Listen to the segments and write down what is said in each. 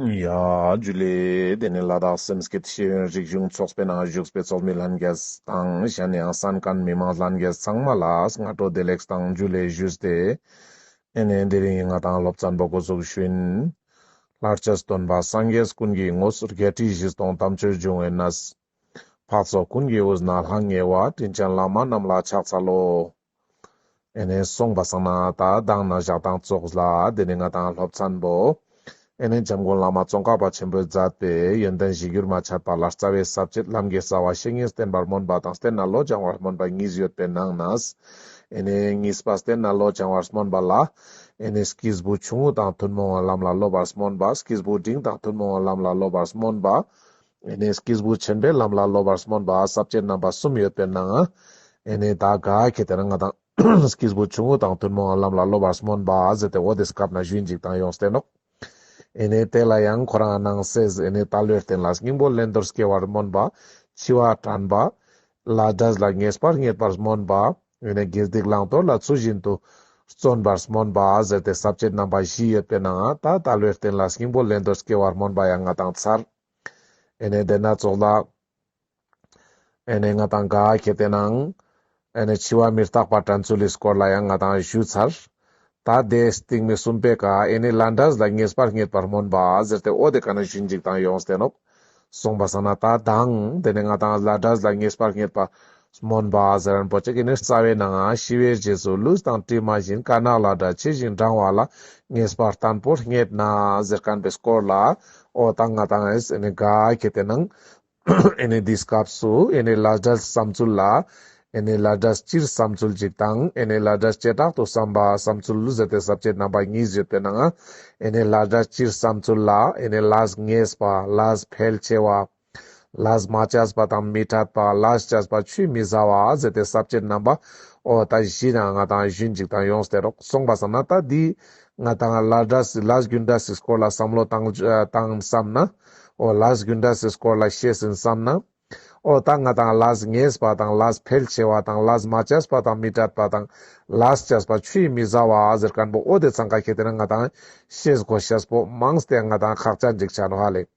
རྒྱུད་ལས། དེ་ནི་ལ་དྭགས་སེམས་སྐྱིད་ཤེས་ཡོན་རིག་གཞུང་ཚོགས་པའི་ནང་བཞུགས་པའི་ཚོགས་མི་ལྷན་རྒྱས་དང་གཞན་ཡང་བསམ་ཀན་མི་མང་ལྷན་རྒྱས་ཚང་མ་ལ་སྔ་དྲོ་བདེ་ལེགས་དང་རྒྱུད་ལས་ཞུས་ཏེ། ཨེ་ནས་འདི་རིང་ང་དང་སློབ་ཚན་པོ་སྒོ་ཟུག་ཤུན། ལྷར་བཅས་སུ་སྟོན་པ་སངས་རྒྱས་ཀུན་གྱི་ངོ་སོ་བརྒྱད་ཁྲི་བཞི་སྟོང་དམ་ཆོས་འབྱུང་བའི་གནས། འཕགས་ཚོགས་ཀུན་གྱི་དབུས་ན་ལྷང་ངེ་བ་དྲིན་ཅན་བླ་མ་རྣམས་ལ་ཕྱག་འཚལ་ལོ། ཨེ་ནས་སོང་བ་སང་ན་ད་བདག་ན་བཞག་དང་ཙོགས་ལ་དེ་ནས་ང་དང་སློབ་ཚན་པོ། ཨེ་ནས་འཇམ་མགོན་བླ་མ་ཙོང་ཁ་པ་ཆེན་པོའི་མཛད་པའི་ཡོན་ཏན་བཞི་འགྱུར་མ་ཆད་པ་ལ་རྩ་བའི་ཟབ་ཁྱད་རྣམ་རྒྱལ་རྩ་བ་བཤེས་གཉེན་བསྟེན་པར་སྨོན་པ་དང་བསྟེན་ན་བློ་སྦྱང་བར་སྨོན་པ་གཉིས་ཡོད་པའི་ནང་ན། ཨེ་ནས་གཉིས་པ་བསྟེན་ན་བློ་སྦྱང་བར་སྨོན་པ་ལ། ཨེ་ནས་ཀིས་བུ་ཆུང་ངུ་དང་ཐུན་མོང་བ་ལམ་ལ་སློབ་པར་སྨོན་པ་ཀིས་བུ་འབྲིང་དང་ཐུན་མོང་བ་ལམ་ལ་སློབ་པར་སྨོན་པ། ཨེ་ནས་སྐྱེས་བུ་ཆེན་པོའི་ལམ་ལ་སློབ་པར་སྨོན་པ་ཟབ་ཅེས་རྣམ་པ་གསུམ་ཡོད་པས་ན། ཨེ་ནས་ད་ག་གེ་དེ་ན་ང་དང། སྐྱེས་བུ་ཆུང་ངུ་དང་བདུན་མོའང་ལམ་ལ་སློབ་པར་སྨོན་པ་ཟེར་ཏེ་འོ་དེ་སྐབས་ན་བཞུད་འཇིག་དང་ཡོངས་བསྟན་ནོ། ཨེ་ནས་དེ་ལ་ཡང་ཁོ་རང་སྣང་སེལ་ཨེ་ནས་ད་ལོའི་རྟེན་ལ་སྙིང་པོ་ལེན་དོར་སྐྱེ་བར་སྨོན་པ། འཆི་བ་དྲན་པ། ལ་སྒྲ་ལ་ངེས་པར་རྙེད་པར་སྨོན་པ། ཨེ་ནས་དགེ་སྡིག་བླང་དོར་ལ་ཚུལ་བཞིན་དུ། བརྩོན་པར་སྨོན་པ་ཟེར་ཏེ་ཟབ་ཅེས་རྣམ་པ་བཞི་ཡོད་པས་ན་ད་ད་ལོའི་རྟེན་ལ་སྙིང་པོ་ལེན་དོར་སྐྱེ་བར་སྨོན་པ་ཡང་ང་དང་མཚར། ཨེ་ནས་བདེ་ན་ཙོག་ལ། ཨེ་ནས་ང་དང་དགའ་གལ་ཏེ་ནང། ཨེ་ནས་འཆི་བ་མི་རྟག་པ་དྲན་ཚུལ་ལིས་སྐོར་ལ་ཡང་ང་དང་བཞུད་ཚར། ད་ལྟའི་སྟེང་མི་གསུམ་པའི་ཀ་ཨེ་ནས་ལ་འདྲ་ཟླ་ངེས་པར་རྙེད་པར་སྨོན་པ་ཟེར་ཏེ་ཨོ་དེ་ཀ་ན་བཞུད་འཇིག་དང་ཡོངས་བསྟན་ནོ། གསུངས་པ་བསམ་ན་ད་དང་དེ་ནས་ང་དང་ལ་འདྲ་ཟླ་ངེས་པར་རྙེད་པ་མོན་པ་ཟེར་རིན་པོ་ཆེ་གིས་ནི་རྩ་བའི་ནང་ཤི་བའི་རྗེས་སུ་ལུས་དང་གྲིབ་མ་བཞིན་དཀར་ནག་ལ་སྒྲ་ཇི་བཞིན་འབྲང་བ་ལ་ངེས་པར་དང་པོར་རྙེད་ན་ཟེར་གན་པའི་སྐོར་ལ་ཨོ་དང་ང་དང་ཨེས་ནི་དགའ་གི་དེ་ནང་ནི་འདིས་སྐབས་སུ་ནི་ལ་སྒྲ་བསམ་ཚུལ་ལ་ནི་ལ་སྒྲ་སྤྱིར་བསམ་ཚུལ་གཅིག་དང་ནི་ལ་སྒྲ་བྱེ་བྲག་ཏུ་བསམ་པ་བསམ་ཚུལ་ཟེར་ཏེ་ཟབ་ཆོས་རྣམ་པ་གཉིས་བཞི་དེ་ནང་ནི་ལ་སྒྲ་སྤྱིར་བསམ་ཚུལ་ལ་ནི་ལ་ངེས་པ་ལ་ཕལ་ཆེ་བ། ལཱས་མ་བཅས་པ་དང་མི་ཕྲད་པ། ལཱས་བཅས་པ་ཆུད་མི་ཟ་བ། ཟད་དེ་ཟབ་ཅེར་རྣམ་པ། ཨོ། ད་གཞི་དང་ང་དང་གཞོན་གཅིག་དང་ཡོངས་སྟེར་རོགས་གསུངས་པ་བསམ་ན་ལྟ་འདི། ང་དང་ལཱས་འདྲ་སྲིད་ལཱས་རྒྱུད་འདྲ་སྲིད་སྐོར་ལ་བསམ་བློ་བཏང་བསམ་ན། ཨོ། ལཱས་རྒྱུད་འདྲ་སྲིད་སྐོར་ལ་བཤད་ཟིན་བསམ་ན། ཨོ། ད་ང་དང་ལཱས་ངེས་པ་དང་ལཱས་ཕལ་ཆེ་བ་དང་ལཱས་མ་བཅས་པ་དང་མི་ཕྲད་པ་དང་ལཱས་བཅས་པ་ཆུད་མི་ཟ་བ། ཟེར་ཀར་འབོ་ཨོ་དེ་ཚང་ཁ་ཁྱེད་དེ་ན་ང་དང། ཤེས་སྒོ་ཤེས་སྤོབས་མང་སྟེ་ང་དང་ཁག་ཅག་འཇིགས་ཆགས་ནོ་ཧ་ལས།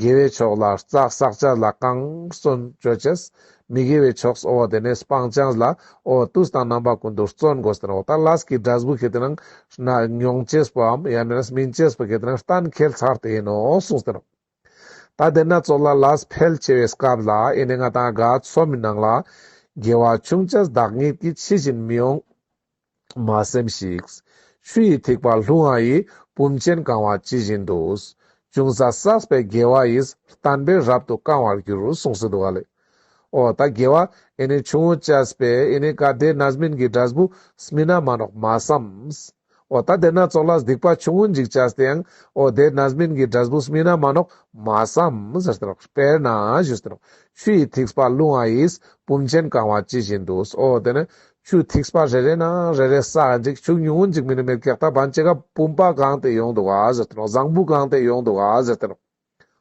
དགེ་བའི་ཕྱོགས་ལ་རྩ་བསགས་བྱ་ལ་གང་བརྩོན་བཅོལ་བྱས། མི་དགེ་བའི་ཕྱོགས་སུ་འོ་དེ་ནས་སྤང་བྱས་ལ་འོ་དུས་དང་རྣམ་པ་ཀུན་ཏུ་བརྩོན་དགོས་ཟེར་རོ། ད་ལ་སྐྱིད་སྒྲ་གཟུགས་ཁྱེད་རྣམས་མྱོང་བྱས་པའམ་ཡང་ན་མིན་བྱས་པ་ཁྱེད་རྣམས་གཏན་འཁེལ་ཚར་དེ་ཡིན་ནོ་གསུངས་ཟེར་རོ། ད་དེ་ན་ཚོགས་ལ་ལ་ཕལ་ཆེ་བའི་སྐབས་ལ་ཡེ་ནས་ང་དང་དགའ་ཚོམ་མི་སྣང་ལ། དགེ་བ་ཆུང་བྱས་བདག་ཉིད་ཀྱིས་ཕྱི་བཞིན་མི་འོང། མ་སེམས་ཤིག། ཆུ་ཡི་ཐིགས་པ་ལྷུང་བ་ཡིས་བུམ་ཆེན་བཀང་བ་ཇི་བཞིན་དུ། ཅུང་ཟད་བསགས་པའི་དགེ་བ་ཡིས་བརྟན་པས་རབ་ཏུ་བསྐང་བར་འགྱུར་གསུངས་སུ་འདུག་ག་ལས། ཨོ་ད་དགེ་བ་ཨེ་ནི་ཆུང་ངུ་ཅཱས་པས་ཨེ་ནི་ག་དེ་ན་སྨིན་གྱི་སྒྲ་སྦུ་སྨིན་ན་མ་ནོག་མ་བསམས། ཨོ་ད་དེ་ན་ཙོག་ལ་སྡིག་པ་ཆུང་ངུ་འཇིག་ཅཱས་དེ་ཡང་ཨོ་དེ་ན་སྨིན་གྱི་སྒྲ་སྦུ་སྨིན་ན་མ་ནོག་མ་བསམས། དཔེར་ན་བཞུགས། ཆུ་ཡི་ཐིགས་པ་ལྷུང་བ་ཡིས་བུམ་ཆེན་བཀང་བ་ཇི་བཞིན་དུ། ཨོ་དེ་ནི་ཆུ་ཐིགས་པ་རེ་རེ་ན་རེ་རེ་ས་འགྲིག་ཆུ་ཉུང་ངུ་འཇིག་མི་ནུས་མེར་སྒེག་ད་བང་ཅི་ག་བུམ་པ་གང་དེ་ཡོང་འདུག་ཨ་ཟེར་དེ་རུང་བཟང་བུ་གང་དེ་ཡོང་འདུག་ཨ་ཟེར་དེ་རུང།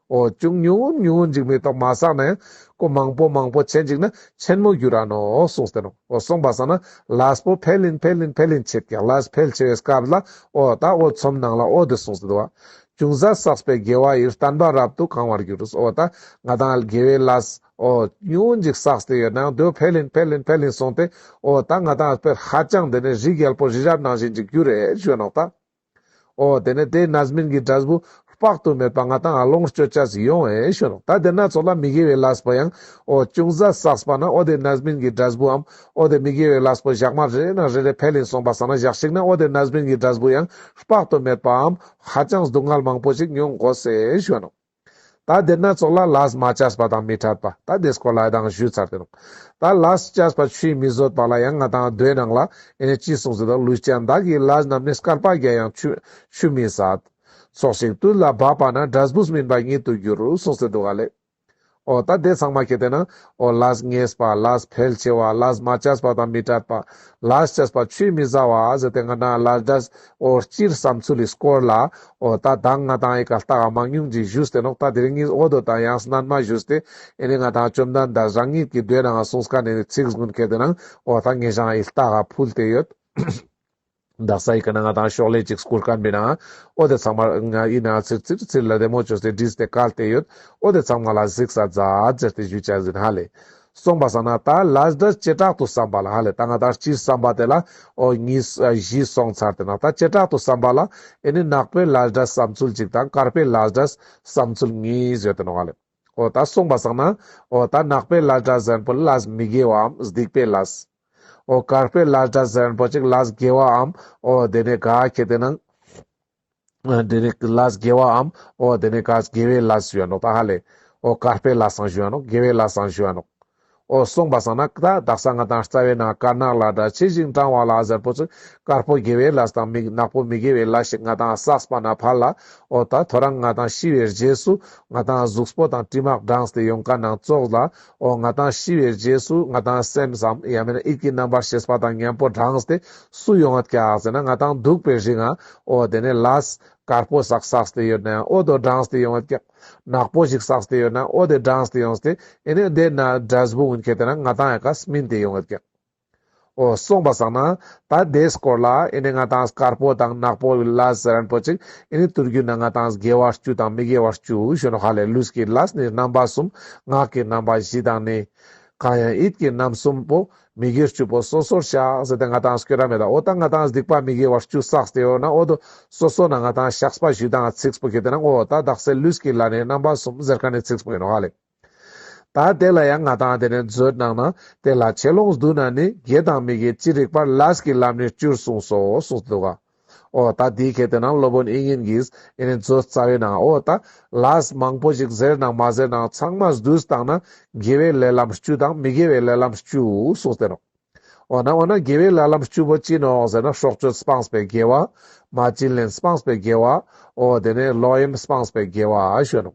ཨོ་ཅུང་ཉུང་ངུ་ཉུང་ངུ་འཇིག་མི་ཐོག་མ་ས་ནས་ཀོ་མང་པོ་མང་པོ་བྱེད་འཇིག་ན་ཆེན་མོ་རྒྱུ་ར་ནོ་གསུངས་དེ་རུང་ཨོ་སོང་པ་ས་ན་ལས་པོ་འཕེལ་ལིན་འཕེལ་ལིན་འཕེལ་ལིན་བྱེད་ཀྱང་ལས་འཕེལ་ཆེ་བའི་སྐབས་ལ་ཨོ་ད་ཨོ་ཚོམ་ནང་ལ་ཨོ་དེ་གསུངས་སུ་འདུག་ཨ་ཅུང་ཟད་བསགས་པའི་དགེ་བ་ཡིར་བརྟན་པ་རབ་ཏུ་གང་བར་གྱུར་ཨོ་ད་ང་དང་དགེ་བའི་ལས། ཨོ། ཉུང་འཇིགས་བསགས་ཏེ་ཡོད་ནའང་དོན་འཕེལ་ལེན་འཕེལ་ལེན་འཕེལ་ལེན་སོང་སྟེ་ཨོ། ད་ང་དང་ཕེར་ཧ་ཅང་འདི་ནས་རི་རྒྱལ་པོ་རི་རབ་ནང་བཞིན་འཇིགས་རྒྱུ་རེད་ཞོད་ནོག་ད། ཨོ། དེ་ནས་དེའི་ན་སྨིན་གྱི་སྒྲ་ཟྦུ། དཔག་ཏུ་མེད་པ་ང་དང་ཨ་ལོངས་སྤྱོད་བྱ་ཟིག་ཡོང་བས་ཞོད་ནོག་ད་དེ་སྣ་ཚོགས་ལ་མི་དགེ་བའི་ལ་སྦོ་ཡང་ཨོ། ཅུང་ཟད་བསགས་པ་ན་ཨོ་དེ་ན་སྨིན་གྱི་སྒྲ་ཟྦུའམ་ཨོ་དེ་མི་དགེ་བའི་ལ་སྦོ་བཞག་མ་རེ་ན་རེ་རེ་འཕེལ་ལེན་སོང་པ་བསགས་ན་བཞག་ཞིག་ན་ཨོ་དེ་ན་སྨིན་གྱི་སྒྲ་ཟྦུ་ཡང་དཔག་ཏུ་མེད་པའམ་ཧ་ཅང་སྡུག་བསྔལ་མང་པོ་ཞིག་མྱོང་དགོ་ཟེ་ཞོད་ནོག། ད་དེར་སྣ་ཚོགས་ལ་ལཱས་མ་ཅཱས་པ་དང་མི་ཕྲད་པ་ད་དེ་སྐོར་ལ་དང་ཞུས་ཚར་ཏེ་རུང། ད་ལཱས་ཅཱས་པ་ཆུའི་མི་བཟོད་པ་ལ་ཡང་ང་དང་རྡོའི་ནང་ལ་ཨེ་ནས་ཅི་གསུངས་ཟེར་དོ་ལུས་ཅན་བདག་གིས་ལཱས་རྣམས་ནི་སྐར་པ་བརྒྱ་ཡང་ཆུ་མི་ཟ། ཚོགས་ཤིག་དུས་ལ་བབ་པ་ན་སྒྲ་སྦུས་མིན་པ་ཉིད་དུ་འགྱུར་གསུངས་ཟེར་འདུག་ག་ལས། ཨོ་ད་དེ་ཚང་མ་ཁྱེར་ཏེ་ན་ཨོ་ལཱས་ངེས་པ་ལཱས་ཕལ་ཆེ་བ་ལཱས་མ་ཅཱས་པ་དང་མི་ཕྲད་པ་ལཱས་ཅཱས་པ་ཆུའི་མི་ཟ་བ་ཟེར་ཏེ་ང་དང་ལཱས་སྒྲ་ཨོ་སྤྱིར་བསམ་ཚུལ་ལས་སྐོར་ལ། ཨོ་ད་དང་ང་དང་ཨེ་ག་ལྟ་ག་མང་ཉུང་ཅིག་བཞུགས་ཏེ་ནོག་ད་དེ་རིང་གཉིས་ཨོ་དོ་དང་ཡང་སྣར་མ་བཞུགས་ཏེ་ཨེ་ནི་ང་དང་བཅོམ་ལྡན་འདས་རང་ཉིད་ཀྱི་སྡོད་ནའང་གསུང་སྐ་ནས་ནི་ཚིག་གཟུགས་མཁས་དེ་ནང་ཨོ་ད་ངེས་ཤངས་ཨེ་ལྟ་ག་ཕུལ་ཏེ་ཡོད། བདག་ས་ཡི་ག་ན་ང་དང་ཤོག་ལྷེ་ཅིག་སྐུར་ག་འབེ་ནའང་ཨོ་དེ་ཚང་མར་ང་ཡི་ནའང་ཚིར་ཚིར་ཚིར་ལ་རེ་མོ་བཅོས་ཏེ་བྲིས་ཏེ་བཀལ་ཏེ་ཡོད། ཨོ་དེ་ཚང་མ་ལ་གཟིགས་ས་རྫ་རྫ་ཟེར་ཏེ་བཞུད་བྱ་ཟིན་ཧ་ལས། གསུངས་པ་བསམ་ན་ད་ལཱས་འདི་བྱེ་བྲག་ཏུ་བསམ་པ་ལ་ཧ་ལས་ད་སྔ་དང་སྤྱིར་བསམ་པ་དེ་ལ་ཨོ་གཉིས་བཞི་སོང་ཚར་དེ་ན་ད་བྱེ་བྲག་ཏུ་བསམ་པ་ལ་ཨེ་ནི་ནག་པོའི་ལཱས་འདྲ་བསམ་ཚུལ་གཅིག་དང་དཀར་པོའི་ལཱས་འདྲ་བསམ་ཚུལ་གཉིས་བཟོས་དེ་ནོ་ཧ་ལས་ཨོ་ད་གསུངས་པ་བསམ་ན་ཨོ་ད་ནག་པོའི་ལཱས་འདྲ་གཟན་པོ་ལཱས་མི་དགེ་བའམ་སྡིག་པའི་ལཱས་ཨོ་དཀར་པོའི་ལཱས་འདྲ་གཟན་པོ་ཅིག་ལཱས་དགེ་བའམ་ཨོ་དེ་ནས་ག་གེ་དེ་ནང། དེ་ནས་ཀླ་དགེ་བའམ། འོ་དེ་ནས་ཀྭ་དགེ་བའི་བླ་ཞུ་བ་ནོ་ད་ཧ་ལས། འོ་ཀྭ་དཔལ་བླ་བསང་ཞུ་བ་ནོ་དགེ་བའི་བླ་བསང་ཞུ་བ་ནོ། འོ་གསུངས་པ་བསང་ན་ཀྭ་བདག་ས་ང་དང་རྩ་བའི་ནང་དཀར་ནག་ལ་དྲ་ཕྱེད་ཅིང་བཀྲང་བ་ལ་གཟར་པོ་ཚུལ་དཀར་པོ་དགེ་བའི་བླ་དང་མིག་ནག་པོ་མི་དགེ་བའི་བླ་ཞིག་ང་དང་བསགས་པ་ན་ཕར་ལ། འོ་ད་ཐོ་རངས་ང་དང་ཤི་བའི་རྗེས་སུ་ང་དང་གཟུགས་པོ་དང་དྲི་མག་སྦྲང་སྟེ་ཡོངས་ཀྭ་ནང་བཙོག་ལ། ཨོ་ང་དང་ཤི་བའི་རྗེས་སུ་ང་དང་སེམས་སམ་ཡང་མིན་ན་ཡིད་ཀྱི་རྣམ་པར་ཤེས་པ་དང་གཉེན་པོ་བགྲངས་ཏེ་སུ་ཡོང་ཨ་ཀྱག་ཟེར་ན་ང་དང་འདུག་པའི་རིགས་ང་ཨོ་དེ་ནས་ལཱས་དཀར་པོ་ཟག་ཟགས་ཏེ་ཡོད་ན་ཡང་ཨོ་དོ་བགྲངས་ཏེ་ཡོང་ཨ་ཀྱག་ནག་པོ་ཞིག་ཟགས་ཏེ་ཡོད་ན་ཨོ་དེ་བགྲངས་ཏེ་ཡོང་སྟེ་ཨེ་ནས་འདས་ན་སྒྲ་གཟུགས་འུན་ཁྱེད་དེ་ན་ང་དང་ཨ་ཀྱག་མིན་ཏེ་ཡོང་ཨ་ཀྱག། འོ་གསུངས་པ་བཟང་ན། ད་དེའི་སྐོར་ལ་ཨེ་ནས་ང་དང་དཀར་པོ་དང་ནག་པོ་གི་ལ་ཟེར་རན་པོ་ཅིག་ཨེ་ནས་བསྟུར་རྒྱུ་ན་ང་དང་དགེ་བ་བཅུ་དང་མི་དགེ་བ་བཅུ་གཞོན་ནུ་ཧ་ལས་ལུས་ཀྱི་ལ་ནི་རྣམ་པ་གསུམ་ངག་གི་རྣམ་པ་བཞི་དང་ནི། གང་ཡང་ཡིད་ཀྱི་རྣམ་གསུམ་པོ་མི་དགེ་བཅུ་པོ་སོ་སོར་བཞག་ཟེར་ཏེ་ང་དང་སྐྱོ་ར་མེད་ལ་འོ་ད་ང་དང་སྡིག་པ་མི་དགེ་བ་བཅུ་བསགས་ཏེ་ཡོད་ན་འོ་དོ་སོ་སོ་ན་ང་དང་ཞགས་པ་བཞི་དང་ཚིགས་པོ་བརྒྱད་དེ་ན་འོ་ད་བདག་སའི་ལུས་ཀྱི་ལ་ནི་རྣམ་པ་གསུམ་ཟེར་ག་ནས་ཚིགས་པོ་ཡིན་ནོ་ཧ་ལས། ད་དེ་ལ་ཡང་ང་དང་དེ་ནས་མཛོད་གནང་ན་དེ་ལ་ཆད་ལོངས་སྡུག་ན་ནི་དགེ་དང་མི་དགེ་ཅི་རིགས་པར་ལཱས་ཀྱི་ལམ་ནས་བཅུར་གསུངས་སོ་གསུངས་འདུག་ག། ཨོ་ད་དེའི་གལ་ཏེ་ན་སློབ་དཔོན་ཨིན་ཡིན་གྱིས་ཨེ་ནི་མཛོད་རྩ་བའི་ནང་ཨོ་ད་ལཱས་མང་པོ་ཞིག་ཟེར་ནང་མ་ཟེར་ནང་ཚང་མ་བསྡུས་བཏང་ན་དགེ་བའི་ལས་ལམ་བཅུ་དང་མི་དགེ་བའི་ལས་ལམ་བཅུ་གསུངས་ཟེར་རོ། འོ་ན་འོ་ན་དགེ་བའི་ལྷ་ལམ་བཅུ་པོ་ཅི་ནོ་ཟེར་ན་སྲོག་གཅོད་སྤངས་པའི་དགེ་བ། མ་བྱིན་ལེན་སྤངས་པའི་དགེ་བ། འོ་དེ་ནས་ལོག་གཡེམ་སྤངས་པའི་དགེ་བ་ཞུས་ནོ།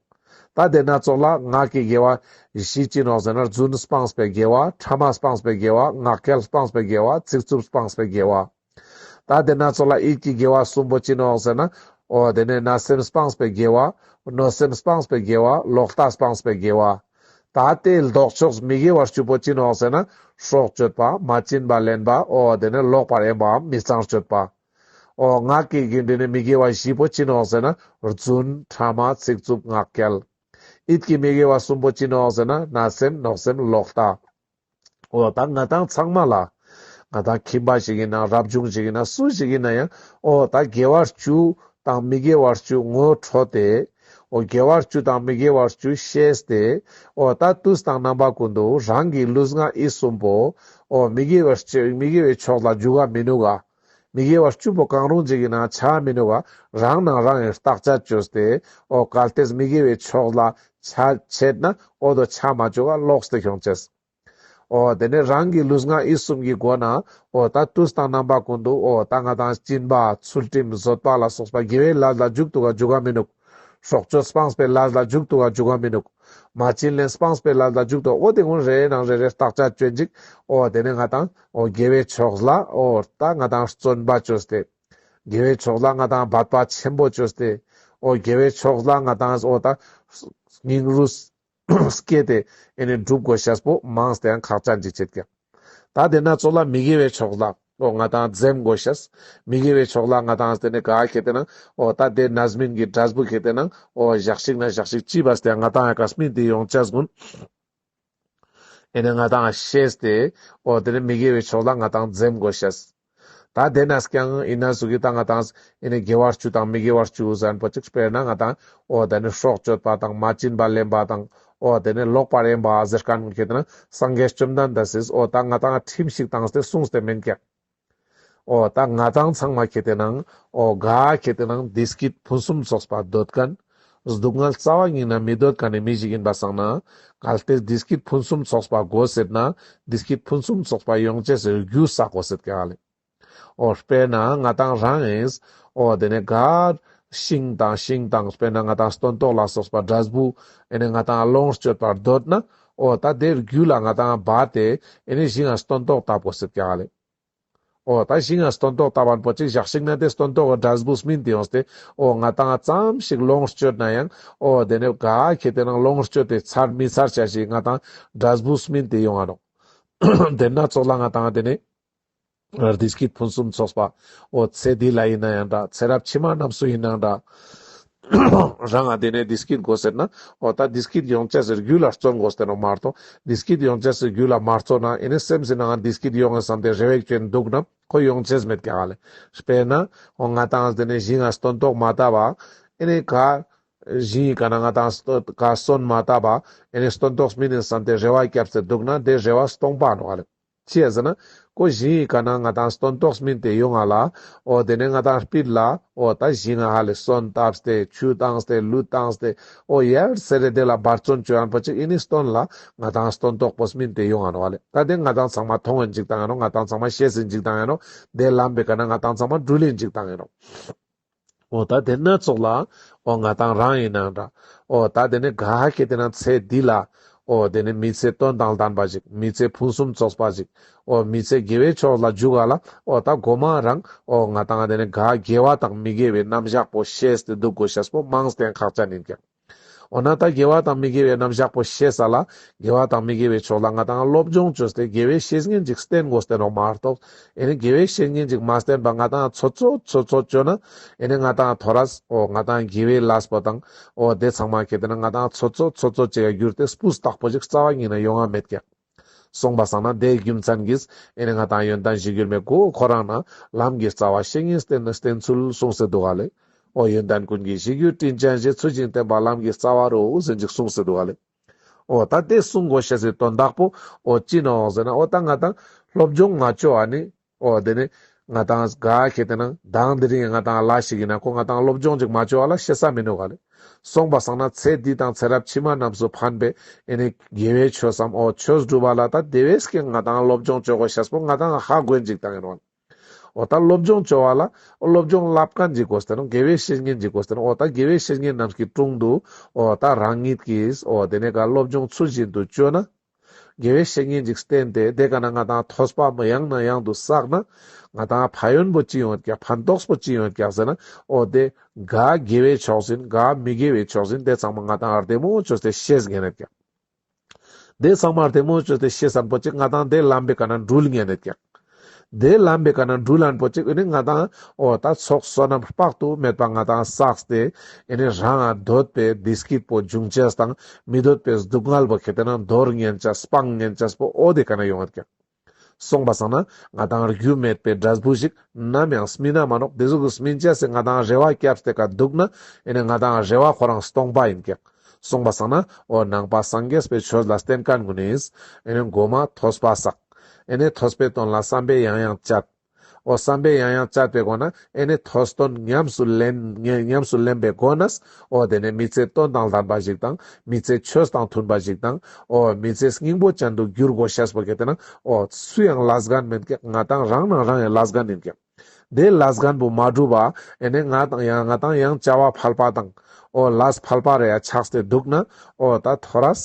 ད་དེ་སྣ་ཚོགས་ལ་ངག་གི་དགེ་བ། བཞི་ཅི་ནོ་ཟེར་ན་བརྫུན་སྤངས་པའི་དགེ་བ། ཕྲ་མ་སྤངས་པའི་དགེ་བ། ངག་འཁྱལ་སྤངས་པའི་དགེ་བ། ཚིག་རྩུབ་སྤངས་པའི་དགེ་བ། ད་དེ་སྣ་ཚོགས་ལ་ཨིད་ཀྱི་དགེ་བ་གསུམ་པོ་ཅི་ནོ་ཟེར་ན། ཨོ་དེ་ནས་ན་སེམས་སྤངས་པའི་དགེ་བ། གནོད་སེམས་སྤངས་པའི་དགེ་བ་ལོག་ལྟ་སྤངས་པའི་དགེ་བ། ད་ལྟའི་ལྡོག་ཕྱོགས་མི་དགེ་བ་བཅུ་པོ་ཅི་ནོ་ཟེར་ན། སྲོག་གཅོད་པ། མ་བྱིན་པ་ལེན་པ། ཨོ་དེ་ནས་ལོག་པར་ཡེངས་པའམ་མི་གཙང་སྤྱོད་པ། ཨོ་ངག་གི་དགེ་འདུན་ནི་མི་དགེ་བ་བཞི་པོ་ཅི་ནོ་ཟེར་ན། རྫུན། ཕྲ་མ། ཚིག་རྩུབ་ངག་འཁྱལ། ཨིད་ཀྱི་མི་དགེ་བ་གསུམ་པོ་ཅི་ནོ་ཟེར་ན། ན་སེམས། ནོག་སེམས། ལོག་ལྟ། ཨོ་ད་ང་དང་ཚང་མ་ལ། ང་དང་ཁྱིམ་པ་ཞིག་ཡིན་ན་རབ་བྱུང་ཞིག་ཡིན་ན་སུ་ཞིག་ཡིན་ན་ཡང་ཨོ་ད་དགེ་བ་བཅུ་དང་མི་དགེ་བ་བཅུ་ངོ་འཕྲོད་དེ། ཨོ་དགེ་བ་བཅུ་དང་མི་དགེ་བ་བཅུ་ཤེས་ཏེ། ཨོ་ད་དུས་དང་རྣམ་པ་ཀུན་ཏུ་རང་གི་ལུས་ངག་ཡིད་གསུམ་པོ། ཨོ་མི་དགེ་བའི་ཕྱོགས་ལ་འཇུག་ག་མི་ནུས་ག། མི་དགེ་བ་བཅུ་པོ་གང་རུང་ཅིག་ཡིན་ན་ཆ་མི་ནུས་པར་རང་སྣང་རང་ཡིན་བརྟག་བྱ་བཅོས་ཏེ། འོ་གལ་ཏེ་མི་དགེ་བའི་ཕྱོགས་ལ་ཆ་བྱེད་ན་འོ་དོ་ཆ་མ་བཅོས་པར་ལོགས་སུ་ཤོང་བྱེད། འོ་དེ་ནས་རང་གི་ལུས་ངག་ཡིད་གསུམ་གྱི་སྒོ་ན་འོ་ད་དུས་དང་རྣམ་པ་ཀུན་ཏུ་འོ་ད་ང་དང་སྤྱིན་པ་ཚུལ་ཁྲིམས་བཟོད་པ་ལ་སོགས་པ་དགེ་བའི་ལས་ལ་འཇུག་ཏུ་འཇུག་ག་མི་ནུས། སྲོག་གཅོད་སྤངས་པའི་ལ་ལ་འཇུག་ཏུ་བ་འཇུག་བ་མི་ནུག། མ་བྱིན་ལེན་སྤངས་པའི་ལ་ལ་འཇུག་ཏུ་ཨོ་དེ་ཀུན་རེའི་ནང་རེ་རེར་བརྟག་བྱ་སྤྱོད་འཇིག་ཨོ་དེ་ནས་ང་དང་ཨོ་དགེ་བའི་ཕྱོགས་ལ་ཨོ་རྟ་ང་དང་བརྩོན་པ་བཅོས་ཏེ། དགེ་བའི་ཕྱོགས་ལ་ང་དང་བར་པ་ཆེན་པོ་བཅོས་ཏེ། ཨོ་དགེ་བའི་ཕྱོགས་ལ་ང་དང་ཨོ་དང། སྙིང་རུས། སྐྱེས་ཏེ་ཨེ་ནས་འགྲུབ་དགོས་ཤཱས་པོ་མངས་དེའང་ཁག་ཅག་འཇིགས་བྱེད་ཀྱང། ད་དེ་ན་ཚོགས་ལ་མི་དགེ་བའི་ཕྱོགས་ལ་ཨོ་ང་དང་འཛེམ་དགོས་ཤཱས། མི་དགེ་བའི་ཕྱོགས་ལ་ང་དང་དེ་ནས་ག་གེ་དེ་ན་ཨོ་ད་དེ་ནཱས་མིན་གྱི་དྲཱས་པོ་གེ་དེ་ན་ཨོ་བཞག་ཤིག་ན་བཞག་ཤིག་ཅི་བཱས་དེའང་ང་དང་གཱས་མིན་དེ་ཡོངས་ཅཱས་གུན། ཨེ་ནས་ང་དང་ཤཱས་ཏེ་ཨོ་དེ་ནས་མི་དགེ་བའི་ཕྱོགས་ལ་ང་དང་འཛེམ་དགོས་ཤཱས། ད་དེ་ནས་ཀྱང་ཨི་ནས་གཟུགས་ཀྱི་དང་ང་དང་ཨི་ནས་དགེ་བ་བཅུ་དང་མི་དགེ་བ་བཅུ་གཟན་པོ་གཅིག་དཔེར་ན་ང་དང་ཨོ་དེ་ནས་སྲོག་གཅོད་པ་དང་མ་བྱིན་པ་ལེན་པ་དང་ཨོ་དེ་ནས་ལོག་པར་གཡེམ་པ་ཟེར་དཀའ་ནུ་ཁྱེད་ནི་སངས་རྒྱས་བཅོམ་ལྡན་འདས་སུས་ཨོ་ད་ང་དང་ཁྲིམས་ཤིག་དང་སྟེ་གསུངས་ཏེ་མིན་ཀྱང། ཨོ་ད་ང་དང་ཚང་མ་ཁྱེད་དེ་ནང་ཨོ་དགའ་ཁྱེད་དེ་ནང་འདི་སྐད་ཕུན་སུམ་ཚོགས་པ་འདོད་དཀོན། སྡུག་བསྔལ་རྩ་བ་ཉིད་ནི་མི་སྡོད་ཀ་ནས་མི་བཞུགས་ཡིན་པ་བསགས་ན། གལ་ཏེ་འདི་སྐད་ཕུན་སུམ་ཚོགས་པ་དགོས་ཟེར་ན། འདི་སྐད་ཕུན་སུམ་ཚོགས་པ་ཡོང་བྱེད་ཟེར་རྒྱུ་བསག་གོ་ཟེར་ག་ལས། ཨོ། དཔེར་ན་ང་དང་རང་ཨེས། ཨོ། དེ་ནས་གར། ཤིང་དང་ཤིང་དང་དཔེར་ན་ང་དང་སྟོན་ཏོག་ལ་སོགས་པ་འདྲ་བུ། ཨེ་ནས་ང་དང་ཨ་ལོང་སྤྱོད་པར་འདོད་ན། ཨོ། ད་དེ་རྒྱུད་ལ་ང་དང་བ་དེ། ཨེ་ནས་གཞི་ང་སྟོན་ཏོག་ལྟ་བུ་ཟེར་ག་ལས། ཨོ། ད་ཞིག་ང་སྟོན་ཐོག་ལྟ་བར་པོ་གཅིག་བཞག་ཞིག་ན་དེ་སྟོན་ཐོག་གི་སྒྲ་སྦུགས་སྨིན་དུ་ཡོང་སྟེ། ཨོ། ང་ད་ང་ཙམ་ཞིག་ལོངས་སྤྱོད་ན་ཡང། ཨོ། དེ་ནས་ག་གེ་དེ་རང་ལོངས་སྤྱོད་དེ་ཚར་མི་ཚར་བྱ་ཞིག་ང་དང་སྒྲ་སྦུགས་སྨིན་དུ་ཡོང་བ་རོགས། དེ་སྣ་ཚོགས་ལ་ང་དང་དེ་ནས། རྡི་སྐྱིད་ཕུན་སུམ་ཚོགས་པ། ཨོ། ཚེ་འདི་ལ་ཡིན་ན་ཡང་འདྲ་ཚེ་རབས་ཕྱི་མ་རྣམས་སུ་ཡིན་ནའང་འདྲ། རང་ཨ་དེ་ནས་དེ་སྐད་དགོས་ཟེར་ན། ཨོ་ད་དེ་སྐད་ཡོང་ཆ་ཟེར་རྒྱུ་ལ་བརྩོན་དགོས་ཟེར་ནོ་མ་གཏོགས་དེ་སྐད་ཡོང་ཆ་ཟེར་རྒྱུ་ལ་མ་བརྩོན་ན་ཨེ་ནས་སེམས་སེ་ནའང་དེ་སྐད་ཡོང་ངེས་བསམ་སྟེ་རེ་བས་བསྐྱོན་འདུག་ན་ཁོ་ཡོང་ཆས་མེད་ཀྱང་ལེ། དཔེར་ན། ཨོ་ང་དང་དེ་ནས་གཞི་ང་སྟོན་ཏོག་མ་བཏབ་ཨ། ཨེ་ནས་ག། གཞི་ཡི་ག་ན་ང་དང་ག་སོན་མ་བཏབ་ཨ། ཨེ་ནས་སྟོན་ཏོག་མིན་ནས་བསམ་སྟེ་རེ་བ་བསྐྱབ་ཟེར་འདུག་ན་དེ་རེ་བ་སྟོང་པ་ནོ་ཨ་ལེ། ཅེས་ཟེར་ན། ཀོ་བཞིན་ཡིན་ག་ན་ང་དང་སྟོན་ཏོག་སྨིན་ཏེ་ཡོད་ང་ལ། ཨོ་དེ་ནས་ང་དང་སྤིར་ལ། ཨོ་ད་བཞིན་ང་ཧ་ལས་སོན་བཏབས་ཏེ་ཆུ་བཏང་ཏེ་ལུད་བཏང་ཏེ། ཨོ་ཡར་སེ་རེ་དེ་ལ་འབར་བརྩོན་བྱོས་ཨན་པོ་ཆེ་ཨི་ནི་སྟོན་ལ། ང་དང་སྟོན་ཏོག་པོ་སྨིན་ཏེ་ཡོད་ང་ནོ་ཨ་ལས་ད་དེ་ང་དང་ཚང་མ་མཐོང་བས་འཇིག་དང་ཡ་ནོ་ང་དང་ཚང་མ་ཤེས་སེ་འཇིག་དང་ཡ་ནོ། དེ་ལམ་པས་ག་ན་ང་དང་ཚང་མ་འགྲུལ་ལས་འཇིག་དང་ཡ་ནོ། འོ་ད་དེ་སྣ་ཚོགས་ལ། འོ་ང་དང་རང་ཡིན་ན་འདྲ། འོ་ད་དེ་ནི་ག་གེ་དེ་ན་ཚེ་འདི་ལ། འོ་དེ་ནི་མི་ཚེ་སྟོན་དང་ལྡན་པ་ཞིག་མི་ཚེ་ཕུན་སུམ་ཚོགས་པ་ཞིག། འོ་མི་ཚེ་དགེ་བའི་ཕྱོགས་ལ་རྒྱུག་ག་ལ། འོ་ད་དགོ་མ་རང། འོ་ང་དང་དེ་ནི་ག་དགེ་བ་དང་མི་དགེ་བའི་རྣམ་གཞག་པོ་ཤེས་ཏེ་འདུག་གོ་ཤེས་པོ་དམངས་བསྟན་ཁག་ཅག་ནི་ཀྱང། འོ་ན་ད་དགེ་བ་དང་མི་དགེ་བའི་རྣམ་གཞག་པོ་ཤེས་ས་ལ་དགེ་བ་དང་མི་དགེ་བའི་ཕྱོགས་ལ་ང་དང་སློབ་སྦྱོང་བྱོས་ཏེ་དགེ་བའི་བཤེས་གཉེན་ཅིག་བསྟེན་དགོས་བསྟེན་རོགས་མ་གཏོགས་ཨེ་ནི་དགེ་བའི་བཤེས་གཉེན་ཅིག་མ་བསྟེན་པར་ང་དང་ཚོ་ཚོ་ཚོ་ཚོ་བཅོས་ན་ཨེ་ནི་ང་དང་དོ་ར་ཨོ་ང་དང་དགེ་བའི་ལཱས་པོ་དང་ཨོ་དེ་ཚང་མ་གལ་ཏེ་ན་ང་དང་ཚོ་ཚོ་ཚོ་ཚོ་བཅས་ཡ་གྱུར་ཏེ་སྤུ་སྟག་པོ་ཅིག་རྩ་བ་ཉིད་ན་ཡོང་ང་མེད་ཀྱང། གསུངས་པ་བསམ་ན་དེའི་རྒྱུ་མཚན་གྱིས་ཨེ་ནི་ང་དང་ཡོན་ཏན་བཞི་འགྱུར་མེད་ཀོ་ཁོ་རང་ནི་ལམ་གྱི་རྩ་བ་བཤེས་གཉེན་བསྟེན་ནི་བསྟེན་ཚུལ་གསུངས་ཟེར་འདུག་ག་ལེ། ཨོ་ཡོན་ཏན་ཀུན་གྱི་གཞི་རྒྱུ་སྤྲིན་ཅན་བཞེས་ཚུལ་བྱིན་བསྟེན་པ་ལམ་གྱི་རྩ་བ་རུ་ཟིན་ཅིག་གསུངས་ཟེར་འདུག་ག་ལེ། ཨོ་ད་དེ་གསུངས་གོ་ཞེས་སོའི་དོན་དག་པོ་ཨོ་ཅི་ནའོ་ཟེར་ན་ཨོ་ད་ང་དང་སློབ་སྦྱོང་ང་ཅོ་ཨ་ནི་ཨོ་དེ་ནི་ང་དང་གཟའ་གལ་ཏེ་ན་བདག་འདི་རིང་ང་དང་ལ་ཞིག་ཡིན་ན་ཁོ་ང་དང་སློབ་སྦྱོང་ཅིག་མ་བྱོས་བ་ལ་ཤེ་ས་མི་ནུས་ག་ལས་སོང་བ་བསམ་ན་ཚེ་འདི་དང་ཚེ་རབས་ཕྱི་མ་རྣམས་སུ་ཕན་པའི་ཨེ་ནི་དགེ་བའི་ཆོས་སམ་ཨོ་ཆོས་སྒྲུབ་བ་ལ་ད་དེ་བས་ཀྱང་ང་དང་སློབ་སྦྱོང་བྱོས་གོ་ཤེས་པོ་ང་དང་ཧ་གོས་འཇིག་དང་ཡིན་ནོ། ཨོ་ད་སློབ་སྦྱོང་བྱོས་བ་ལ་ཨོ་སློབ་སྦྱོང་བསླབ་ག་འཇིག་གོ་ས་དེ་ནོ་དགེ་བའི་བཤེས་གཉེན་འཇིག་གོ་ས་དེ་ནོ་ཨོ་ད་དགེ་བའི་བཤེས་གཉེན་རྣམས་ཀྱི་དྲུང་དུ་ཨོ་ད་རང་ཉིད་ཀྱིས་ཨོ་དེ་ནས་ཀ་སློབ་སྦྱོང་ཚུལ་བཞིན་དུ་བྱོས་ན་དགེ་བའི་བཤེས་གཉེན་གྱིས་བསྟན་ཏེ་དེ་ག་ན་ང་དང་ཐོས་པ་མི་ཡང་ན་ཡང་དུ་བསགས་ན། ང་དང་ཕ་ཡོན་པོ་ཅི་ཡོད་ཀྱང་ཕན་ཐོགས་པོ་ཅི་ཡོད་ཀྱང་ཟེར་ན་ཨོ་དེ། འགའ་དགེ་བའི་ཕྱོགས་ཟིན་འགའ་མི་དགེ་བའི་ཕྱོགས་ཟིན་དེ་ཚང་མ་ང་དང་ཨར་ཏེ་མོ་ཅོས་དེ་ཤེས་ངེས་རེད་ཀྱང། དེ་ཚང་མ་ཨར་ཏེ་མོ་ཅོས་དེ་ཤེས་སར་འཕོ་ཆེད་ང་དང་དེ་ལམ་པའི་ག་ན་འགྲུལ་ངེས་རེད་ཀྱང། དེའི་ལམ་པའི་བཀའ་ན་འབྲུ་ལན་པོ་ཅིག་འི་ནི་ང་དང། འོ་ད་ཚོགས་བསོད་ནམས་དཔག་ཏུ་མེད་པ་ང་དང་བསགས་ཏེ། འི་ནི་རང་ང་འདོད་པའི་བདེ་སྐྱིད་པོ་འབྱུང་བྱེད་དང་མི་འདོད་པའི་སྡུག་བསྔལ་བོ་གལ་ཏེ་ན་རྡོར་ངན་བྱ་སྤང་ངན་བྱ་པོ་འོ་དེ་ག་ན་ཡོང་བར་ཀྱང། གསུངས་པ་བསམ་ན་ང་དང་རྒྱུ་མེད་པའི་དགྲ་བུ་ཞིག་ནམ་ཡང་སྨིན་ན་མ་ནོག་དེ་གཟུགས་སུ་སྨིན་བྱས་སའི་ང་དང་རེ་བ་བསྐྱབས་ཏེ་ཀ་འདུག་ན་འི་ནི་ང་དང་རེ་བ་ཁོ་རང་སྟོང་པ་ཡིན་ཀྱང། གསུངས་པ་བསགས་ན་འོ་ནང་པ་སངས་རྒྱས་པའི་ཆོས་ལ་བརྟེན་དཀའ་དགོས་ནས། ཨེ་ནས་མགོ་མ་ཐོས་པ་བསགས། ཨེ་ནས་ཐོས་པའི་དོན་ལ་བསམ་པས་ཡང་ཡང་བཅད། འོ་བསམ་པས་ཡང་ཡང་བཅད་པའི་སྒོ་ན་ཨེ་ནས་ཐོས་དོན་ཉམས་སུ་ལེན། ཉམས་སུ་ལེན་པའི་སྒོ་ནས། འོ་དེ་ནས་མི་ཚེའི་དོན་དང་ལྡན་པ་ཞིག་དང། མི་ཚེའི་ཆོས་དང་མཐུན་པ་ཞིག་དང། འོ་མི་ཚེའི་སྙིང་པོ་ཅན་དུ་འགྱུར་དགོས་ཞེས་པ་གལ་ཏེ་ན། འོ་སུ་ཡང་ལ་སྒ་མེད་ཀྱི་ང་དང་རང་ནང་རང་ཡང་ལ་སྒ་མིན་ཀྱི། དེ་ལ་སྒམ་པོ་མ་བསྒྲུབ་པ་ཨེ་ནས་ང་དང་ཡང་ང་དང་ཡང་བྱ་བ་ཕལ་པ་དང། ཨོ་ལས་ཕལ་པ་རེ་ཡ་ཆགས་ཏེ་འདུག་ན་ཨོ་ད་ཐོ་རས།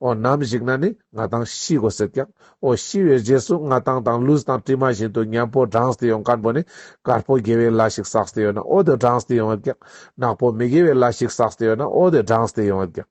ཨོ་ནམ་ཞིག་ན་ནི་ང་དང་ཤི་གོ་ཟེར་ཀྱང་ཨོ་ཤི་བའི་རྗེས་སུ་ང་དང་དང་ལུས་དང་གྲིབ་མ་བཞིན་དུ་མཉམ་པོ་འབྲངས་ཏེ་ཡོང་སྒམ་པོ་ནི་དཀར་པོ་དགེ་བའི་ལ་ཞིག་བསགས་ཏེ་ཡོད་ན་ཨོ་དེ་འབྲངས་ཏེ་ཡོང་བས་ཀྱང་ནག་པོ་མི་དགེ་བའི་ལ་ཞིག་བསགས་ཏེ་ཡོད་ན་ཨོ་དེ་འབྲངས་ཏེ་ཡོང་བས་ཀྱང།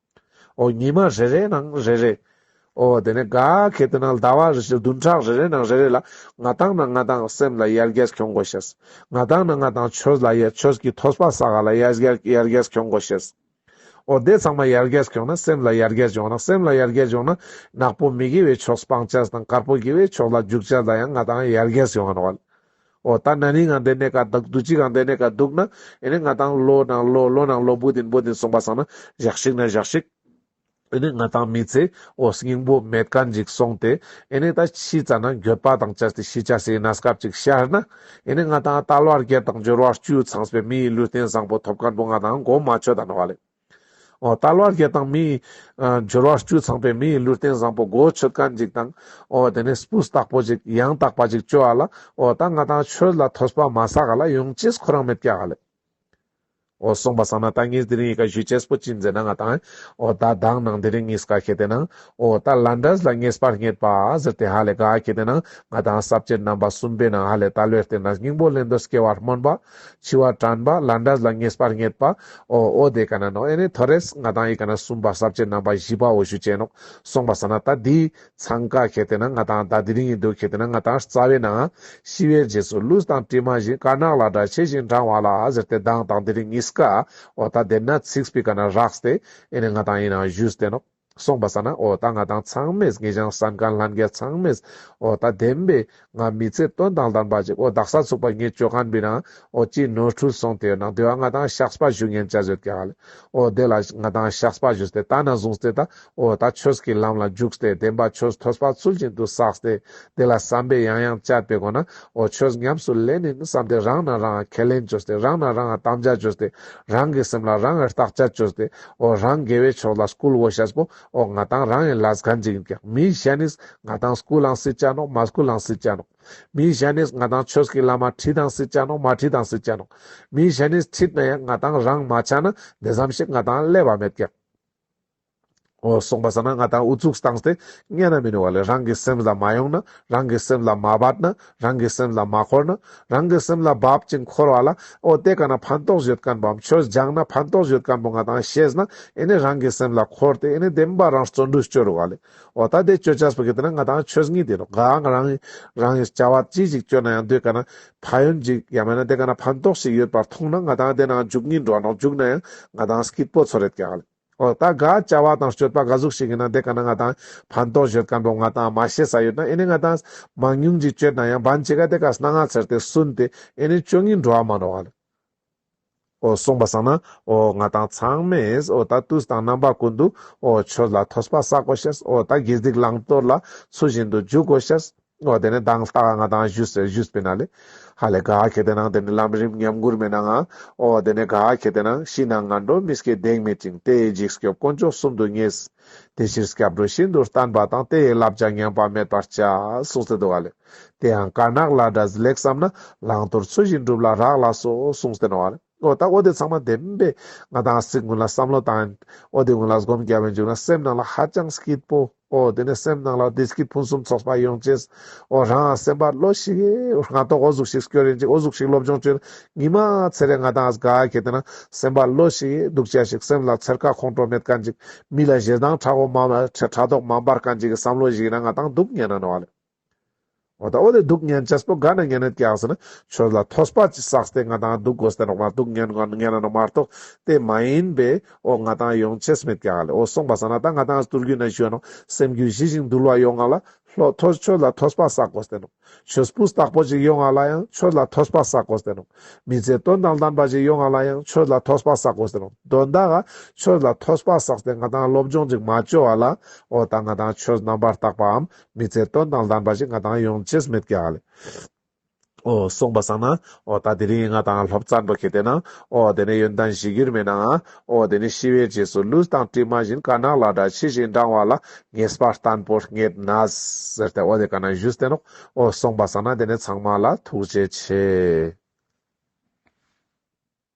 ཨོ། ཉི་མ་རེ་རེའི་ནང་རེ་རེ། ཨོ། དེ་ནས་ག་གེ་དེ་ནང་ཟླ་བ་རེ་བཞི་བདུན་ཕྲག་རེ་རེའི་ནང་རེ་རེ་ལ། ང་དང་ན་ང་དང་སེམས་ལ་ཡར་རྒྱས་འཁྱོངས་དགོས་ཤེས། ང་དང་ན་ང་དང་ཆོས་ལ་ཡར་ཆོས་ཀྱི་ཐོས་པ་ས་ག་ལ་ཡར་ཡར་རྒྱས་འཁྱོངས་དགོས་ཤེས། ཨོ། དེ་ཚང་མ་ཡར་རྒྱས་འཁྱོངས་ན་སེམས་ལ་ཡར་རྒྱས་འབྱུང་ན་སེམས་ལ་ཡར་རྒྱས་འབྱུང་ན། ནག་པོ་མི་དགེ་བའི་ཕྱོགས་སྤང་བྱ་དང་དཀར་པོ་དགེ་བའི་ཕྱོགས་ལ་འཇུག་བྱ་ལ་ཡང་ང་དང་ཡར་རྒྱས་ཡོང་བ། ཨོ་ད་ན་ནི་ང་འདི་ནས་ཀ་འདུག་དུས་གཅིག་གང་འདི་ནས་ཀ་འདུག་ན་ཡིན་ནི་ང་དང་བློ་ནང་བློ་བློ་ནང་བློ་འབོད་དིན་འབོད་དིན་གསུངས་པ་སང་ན་བཞག་ཤིག་ན་བཞག་ཤིག་ཡིན་ནི་ང་དང་མི་ཚེ་ཨོ་སྙིང་པོ་མེད་ཀ་འཇིག་སོང་སྟེ་ཡིན་ནི་ད་ཕྱིས་ཙ་ན་འགྱོད་པ་དང་བཅར་ཏེ་ཤི་ཆ་སི་ཡི་ན་སྐབས་ཅིག་ཤར་ན་ཡིན་ནི་ང་དང་ཨ་ཏཱ་བློ་ཨར་རྒྱལ་དང་འབྱོར་བ་བཅུ་ཚངས་པའི་མི་ཡི་ལུས་རྟེན་བཟང་པོ་ཐོབ་ཀ་འགྲོ་ང་དང་གོ་མ་ཆོད་ད་ན་བ་ལེ། ཏཱ་ལ་བ་རྒྱལ་དང་མི། སྦྱོར་བ་བཅུ་ཚང་པའི་མིའི་ལུས་རྟེན་བཟང་པོ་སྒོ་ཁྱུད་དཀར་འཇིགས་དང། དེ་ནས་སྤུ་སྟག་པོ་ཅིག་ཡང་དག་པ་ཅིག་བཅོལ་བ་ལ། ད་ང་དང་ཁྱོད་ལ་ཐོས་པ་མ་ཟ་ག་ལ་ཡོང་ཅེས་ཁོ་རང་མི་སྐྱ་ག་ལས། གསུངས་པ་བསམ་ན་ད་ངས་དེ་རིང་ཡི་ག་བཞུས་ཅེས་པོ་ཅི་མཛད་ན་ང་དང། ད་བདག་ནང་དེ་རིང་ངས་ག་ཁྱེད་དེ་ནང། ད་ལ་འདྲས་ལ་ངས་པར་རྙེད་པ་ཟེར་དེ་ཧ་ལས་ག་ཁྱེད་དེ་ནང། ང་དང་ཟབ་ཆོས་རྣམ་པ་གསུམ་པའི་ནང་ཧ་ལས་ད་ལོའི་རྟེན་དང་སྙིང་པོ་ལེན་འདོད་སྐྱེ་བར་སྨོན་པ། འཆི་བ་དྲན་པ་ལ་འདྲ་ལ་ངེས་པར་ངེས་པའོ། ཨོ་དེ་ག་ན་ནོ་ཨེ་ནི་ཐོ་རེས་ང་དང་ཡི་ག་ན་གསུམ་པ་ཟབ་ཆེ་རྣམ་པ་བཞི་པའོ་ཞུ་བྱས་ནོ། སོང་པ་ས་ན་ད་དེའི་འཚང་ཀ་ཁྱེར་དེ་ན་ང་དང་ད་དེ་རིང་ཡིན་འདུག་ཁྱེར་དེ་ན་ང་དང་རྩ་བའི་ན། ཤི་བའི་རྗེས་སུ་ལུས་དང་གྲིབ་མ་བཞིན་དཀར་ནག་ལ་འདྲ་ཆེ་ཞིང་འབྲང་བ་ལ་ཟེར་ཏེ་གདངས་དང་དེ་རིང་གཉིས་ཀའོ་ད་དེ་ན་ཚིགས་པའི་ག་ན་རགས་ཏེ་ཨེ་ནི་ང་དང་ཡིན་ན་བཞུས་ཏེ་ནོ། གསུངས་པ་ས་ན་ཨོ་ད་ང་དང་ཚང་མས་ངེད་ཅང་ས་མཁར་ལྷ་འགས་ཚང་མས་ཨོ་ད་བདེན་པས་ང་མི་ཚེ་སྟོན་དང་ལྡན་པ་ཅིག་ཨོ་ད་ས་ཚུགས་པ་ངས་ཅོ་ག་འབི་རང་ཨོ་གཅིག་ནོར་འཁྲུལ་སོང་དེ་ཡོད་ན་དེ་བ་ང་དང་ཤགས་པ་བཞུགས་ངན་བྱ་ཟོད་ཀྱ་ལ་ཨོ་དེ་ལ་ང་དང་ཤགས་པ་བཞུགས་ཏེ་ད་ན་བཟུང་སྟེ་ད་ཨོ་ད་ཆོས་ཀྱི་ལམ་ལ་རྒྱུགས་སྟེ་བདེན་པ་ཆོས་ཐོས་པ་ཚུལ་བཞིན་དུ་བསགས་སྟེ་དེ་ལ་བསམ་པས་ཡང་ཡང་བཅར་པའི་སྒོ་ན་ཨོ་ཆོས་ཉམས་སུ་ལེན་ནི་བསམ་སྟེ་རང་ནང་རང་ཁས་ལེན་བྱོས་སྟེ་རང་ནང་རང་དམ་བཅའ་བྱོས་སྟེ་རང་གི་སེམས་ལ་རང་རྟགས་བཅའ་བྱོས་སྟེ་ཨོ་རང་དགེ་བའི་ཕྱོགས་ལ་སྐུལ་བོ་བྱས་པོ་ཨོ་ང་དང་རང་ཡིན་ལ་གཟའ་འཇིག་ཡིན་ཀྱང་མིའི་ཞལ་ནས་ང་དང་སྐུལ་ལང་སྲིད་ཅག་ནོ་མ་སྐུལ་ལང་སྲིད་ཅག་ནོ། མིའི་ཞལ་ནས་ང་དང་ཆོས་ཀྱི་བླ་མ་ཁྲིད་དང་སྲིད་ཅག་ནོ་མ་ཁྲིད་དང་སྲིད་ཅག་ནོ། མིའི་ཞལ་ནས་ཁྲིད་ན་ཡང་ང་དང་རང་མ་ཆགས་ན་འདི་ཙམ་ཞིག་ང་དང་ཀླད་པ་མེད་ཀྱང། ཨོ་གསུངས་པ་ཟ་ན་ང་དང་ཨུ་ཚུགས་བཏང་སྟེ་བསྙད་ན་མི་ནུས་བ་ལས་རང་གི་སེམས་ལ་མ་ཡོང་ན་རང་གི་སེམས་ལ་མ་བབས་ན་རང་གི་སེམས་ལ་མ་འཁོར་ན། རང་གི་སེམས་ལ་བབ་ཅིང་འཁོར་བ་ལ། ཨོ་དེ་ག་ན་ཕན་ཐོགས་བཞོད་སྐམ་པོའམ་ཆོས་སྦྱངས་ན་ཕན་ཐོགས་བཞོད་སྐམ་པོ་ང་དང་ཤེས་ན། ཨེ་ནས་རང་གི་སེམས་ལ་འཁོར་ཏེ་ཨེ་ནས་དེ་མིན་པ་རང་བརྩོན་འགྲུས་སྤྱོད་རུ་བ་ལས། ཨོ་ད་དེ་སྤྱོད་བྱ་སྤོ་གི་དེ་ན་ང་དང་ཆོས་གཉིས་དེ་རུ་འགའ། རང་གི་རང་གི་བྱ་བ་ཅི་ཞིག་སྤྱོད་ན་ཡང་དེ་ག་ན་ཕ་ཡོན་ཅིག་ཡང་མེད་ན་དེ་ག་ན་ཕན་ཐོགས་ཤིག་ཡོད་པར་མཐོང་ན་ང་དང་དེ་ནང་འཇུག་གཉིས་འགྲོ་བ་ནོག་འཇུག་ན་ཡང་ང་དང་སྐྱིད་པོ་ཚོ་རེད་ཀྱང། ཨོ། ད་ག་བྱ་བ་དང་སྤྱོད་པ་ག་གཟུགས་ཤིག་ཡིན་ན་དེ་ག་ན་ང་དང་ཕན་ཐོགས་བཞོད་དཀའ་འགྲོ་ང་དང་མ་ཤེས་ས་ཡོད་ན་ཨེ་ནས་ང་དང། མང་ཉུང་གཅིག་སྤྱོད་ན་ཡང་བན་ཆེ་ག་དེ་ག་སྣ་ང་ཚེར་ཏེ་སུན་ཏེ་ཨེ་ནས་སྤྱོད་ངེས་འགྲོ་བ་མ་འགྲོ་བ་ལ། ཨོ་གསུངས་པ་བསམ་ན་ཨོ། ང་དང་ཚང་མས་ཨོ་ད་དུས་དང་རྣམ་པ་ཀུན་ཏུ་ཨོ་ཆོས་ལ་ཐོས་པ་བསག་གོ་ཤེས་ཨོ་ད་དགེ་སྡིག་བླང་དོར་ལ་ཚུལ་བཞིན་དུ་འཇུག་གོ་ཤེས། ནོ་དེ་ནི་དང་ས་ག་ང་དང་ཞུས་ཟེར་ཞུས་པས་ན་ལེ། ཧ་ལས་ག་ཁྱེད་དེ་ནང་དེ་ནི་ལམ་རིམ་ཉམས་མགུར་མེད་ན་ང། ཨོ་དེ་ནི་ག་ཁྱེད་དེ་ནང་ཤི་ན་ང་འགྲོ་མི་སྐྱེ་འདེགས་མེད་ཅིང་དེ་ཡི་འཇིགས་སྐྱོབ་དཀོན་མཆོག་གསུམ་དུ་ངེས། དེ་ཕྱིར་སྐྱབས་འགྲོ་ཤིན་ཏུ་བརྟན་པ་དང་དེ་ཡི་བསླབ་བྱ་ཉམས་པ་མེད་པར་བྱ། གསུངས་ཚེ་འདུག་ག་ལེ། དེ་ཡང་དཀར་ནག་བླ་གྲྭ་ཟི་ལེགས་བསམ་ན་བླང་དོར་ཚུལ་བཞིན་སྒྲུབ་ལ་རག་ལགས་སོ་གསུངས་ཚེ་ནོ་ག་ལེ། ཨོ་ད་ཨོ་དེ་ཚང་མ་བདེན་པས་ང་དང་སིག་སྔོན་ལ་བསམ་བློ་བཏང། ཨོ་དེ་སྔོན་ལ་སྒོམ་རྒྱག་པའི་མཇུག་ན་སེམས་ནང་ལ་ཧ་ཅང་སྐྱིད་པོ། ཨོ་དེ་ནས་སེམས་ནང་ལ་དེས་ཀྱི་ཕུན་སུམ་ཚོགས་པ་ཡོང་བྱས། ཨོ་རང་སེམས་པ་བློ་ཞིག་ཨེ། ང་རྟོགས་ཨོ་གཟུགས་ཤིག་སྐྱོ་རེ་འཇིགས་ཨོ་གཟུགས་ཤིག་སློབ་སྦྱོང་བྱོས། ཉི་མ་ཚེ་རེ་ང་དང་སྒ་ཁྱེད་དེ་ན་སེམས་པ་བློ་ཞིག་ཨེ་སྡུག་ཅག་ཤིག་སེམས་ལ་ཚེར་ཁ་ཁོང་ཁྲོ་མེད་དཀའ་འཇིགས། མི་ལ་གཞས་གདངས་ཕྲ་བོ་མ་ཕྲ་དོག་མ་འབར་དཀའ་འཇིགས་བསམ་བློ་ཞིག་ཡིན་ན་ང་དང་སྡུག་བསྔལ་ན་ནོ། ད་འོ་དེ་སྡུག་བསྔལ་ཇེ་སྤོ་ག་ནས་ངན་ནས་ཀྱང་ཟེར་ན་ཆོས་ལ་ཐོས་པ་ཅི་བསགས་ཏེ་ང་དང་སྡུག་གོ་ཟེར་ན་མ་གཏོགས་ངན་གོ་ངན་ན་མ་གཏོགས་དེ་མ་ཡིན་པས་འོ་ང་དང་ཡོང་ཆེས་མེད་ཀྱང་ལེ་འོ་སོང་པ་ཟ་ན་ད་ང་དང་སྟུར་རྒྱུ་ན་ཞོན་ནོ་སེམས་རྒྱུ་ཞི་ཞིང་དུལ་བ་ཡོང་ང་ལ་ལྷོ་ཐོས་ཆོས་ལ་ཐོས་པ་བསགས་གོ་ཟེར་ནོ་ཆོས་སྤུ་བསགས་པོ་ཅིག་ཡོང་ང་ལ་ཡང་ཆོས་ལ་ཐོས་པ་བསགས་གོ་ཟེར་ནོ་མི་ཚེ་སྟོན་དང་ལྡན་པ་ཅིག་ཡོང་ང་ལ་ཡང་ཆོས་ལ་ཐོས་པ་བསགས་གོ་ཟེར་ནོ་དོན་དག་ག་ཆོས་ལ་ཐོས་པ་བསགས་ཏེ་ང་དང་སློབ་སྦྱོང་ཅིག་མ་བཅོལ་བ་ལ་འོ་ད་ང་དང་ཆོས་རྣམ་པར་དག་པའམ་མི་ཚེ་སྟོན་དང་ལྡན་པ་ཞིག་ང་དང་ཡོང་ཆེས་མེད་ཀྱི་ཨ་ལས། ཨོ། སོང་བ་བསམ་ན། ཨོ། ད་དེ་རིང་ང་དང་ལྷོ་བཙན་པོ་ཁེ་བསྡད་ན། ཨོ། དེ་ནས་ཡོན་ཏན་བཞི་གྱུར་མེད་ནའང། ཨོ། དེ་ནས་ཤི་བའི་རྗེས་སུ་ལུས་དང་གྲིབ་མ་བཞིན་དཀར་ནག་ལ་དྲ་ཕྱི་བཞིན་འབྲང་བ་ལ་ངེས་པར་བརྟན་པོ་རྙེད་ན། ཟེར་ཏེ་ཨོ་དེ་ག་ན་བཞུད་བསྟེན་རོགས། ཨོ། སོང་བ་བསམ་ན་དེ་ནས་ཚང་མ་ལ་ཐུགས་རྗེ་ཆེ།